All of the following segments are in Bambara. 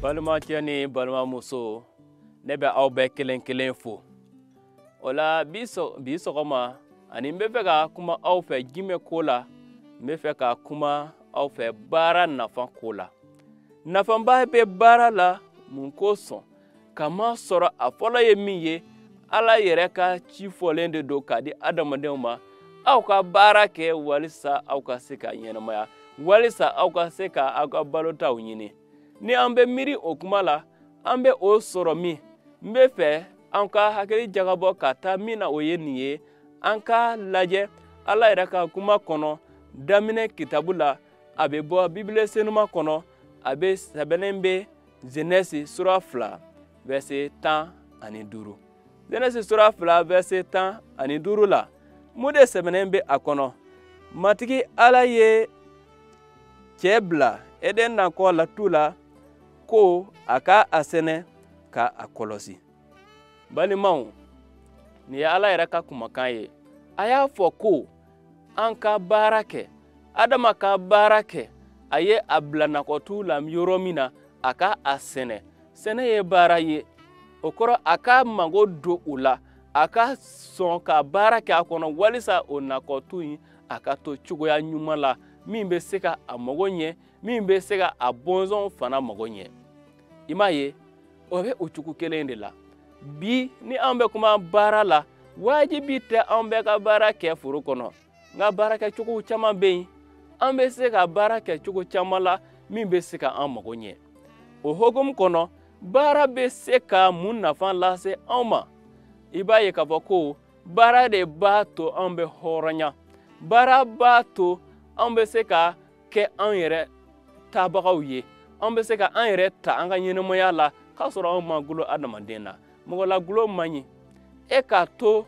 balimacɛ ni balimamuso ne bɛ aw bɛɛ kelen kelen fo o la bi sɔgɔma ani n bɛ fɛ ka kuma aw fɛ jumɛn ko la n bɛ fɛ ka kuma aw fɛ baara nafa ko la nafaba bɛ baara la mun kosɔn k'a masɔrɔ a fɔlɔ ye min ye ala yɛrɛ ka ci fɔlen de don k'a di adamadenw ma aw ka baara kɛ walisa aw ka se ka ɲɛnamaya walisa aw ka se ka aw ka balotaw ɲini ni an bɛ miiri o kuma la an bɛ o sɔrɔ min n bɛ fɛ an ka hakili jagabɔ ka taa min na o ye nin ye an ka lajɛ ala yɛrɛ ka kuma kɔnɔ daminɛ kitabu la a bɛ bɔ bibile senuma kɔnɔ a bɛ sɛbɛnnen bɛ zenɛsi sura fila vɛse tan ani duuru zenɛsi sura fila vɛse tan ani duuru la mun de sɛbɛnnen bɛ a kɔnɔ matigi ala ye cɛ bila eden nakɔ la tu la ko a ka a sɛnɛ ka a kɔlɔsi balimaw nin ye ala yɛrɛ ka kumakan ye a y'a fɔ ko an ka baara kɛ adama ka baara kɛ a ye a bila nakɔtu la yɔrɔ min na a ka a sɛnɛ sɛnɛ ye baara ye o kɔrɔ a ka mago don o la a ka sɔn ka baara kɛ a kɔnɔ walisa o nakɔtu in a ka to cogoya ɲuman la min bɛ se ka a mago ɲɛ min bɛ se ka a bɔnsɔnw fana mago ɲɛ i m'a ye o bɛ o cogo kelen de la bi ni an bɛ kuma baara la wajibi tɛ an bɛɛ ka baara kɛ foro kɔnɔ nka baarakɛcogo caman bɛ yen an bɛ se ka baara kɛ cogo caman la min bɛ se ka an mago ɲɛ o hukumu kɔnɔ baara bɛ se ka mun nafa lase anw ma i b'a ye k'a fɔ ko baara de b'a to an bɛ hɔrɔnya baara b'a to an bɛ se ka kɛ an yɛrɛ tabagaw ye an bɛ se ka an yɛrɛ ta an ka ɲɛnamaya la k'a sɔrɔ anw ma gulo adamaden na mɔgɔlagulo man ɲi e ka to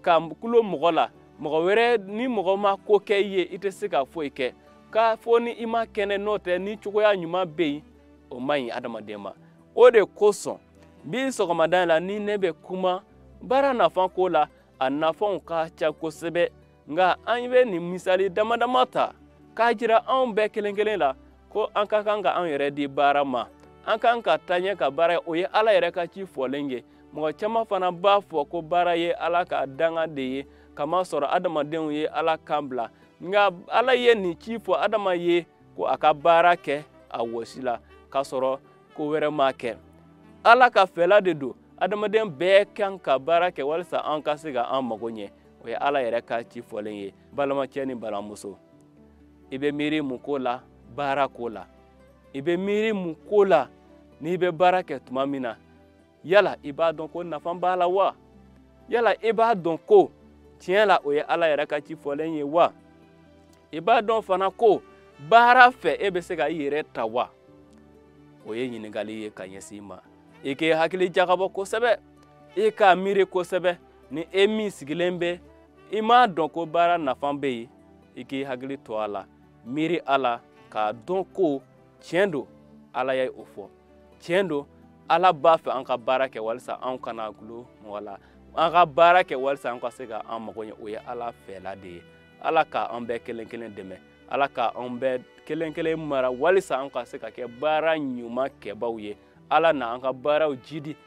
ka gulo mɔgɔ la mɔgɔ wɛrɛ ni mɔgɔ ma ko kɛ i ye i tɛ se ka foyi kɛ k'a fɔ ni i man kɛnɛ n'o tɛ ni cogoya ɲuman bɛ yen o man ɲi adamaden ma o de kosɔn bi sɔgɔmada in la ni ne bɛ kuma baara nafan ko la a nafanw ka ca kosɛbɛ nka an bɛ nin misali dama dama ta k'a jira anw bɛɛ kelen kelen la ko an ka kan ka an yɛrɛ di baara ma an kan ka taa ɲɛ ka baara o ye ala yɛrɛ ka ci fɔlen ye mɔgɔ caman fana b'a fɔ ko baara ye ala ka danga de ye k'a masɔrɔ adamadenw ye ala kan bila nka ala ye nin ci fɔ adama ye ko a ka baara kɛ a wɔsi la k'a sɔrɔ ko wɛrɛ ma kɛ ala ka fɛla de don adamaden bɛɛ kan ka baara kɛ walisa an ka se ka an mago ɲɛ o ye ala yɛrɛ ka ci fɔlen ye balimacɛ ni balimamuso i bɛ miiri mun ko la baara ko la i bɛ miiri mun ko la n'i bɛ baara kɛ tuma min na yala i b'a dɔn ko nafa b'a la wa yala i b'a dɔn ko tiɲɛ la o ye ala yɛrɛ ka ci fɔlen ye wa i b'a dɔn fana ko baara fɛ e bɛ se ka i yɛrɛ ta wa o ye ɲininkali ye ka ɲɛsin i ma i k'i hakili jagabɔ kosɛbɛ i k'a miiri kosɛbɛ ni e min sigilen bɛ i m'a dɔn ko baara nafa bɛ yen i k'i hakili to a la miiri a la k'a dɔn ko tiɲɛ don ala ye o fɔ tiɲɛ don ala b'a fɛ an ka baara kɛ walisa an kana dulon mɔgɔ la an ka baara kɛ walisa an ka se ka an mago ɲɛ o ye ala fɛla de ye ala ka an bɛɛ kelen kelen dɛmɛ ala ka an bɛɛ kelen kelen mara walisa an ka se ka kɛ baara ɲuman kɛbaaw ye ala na an ka baaraw jidi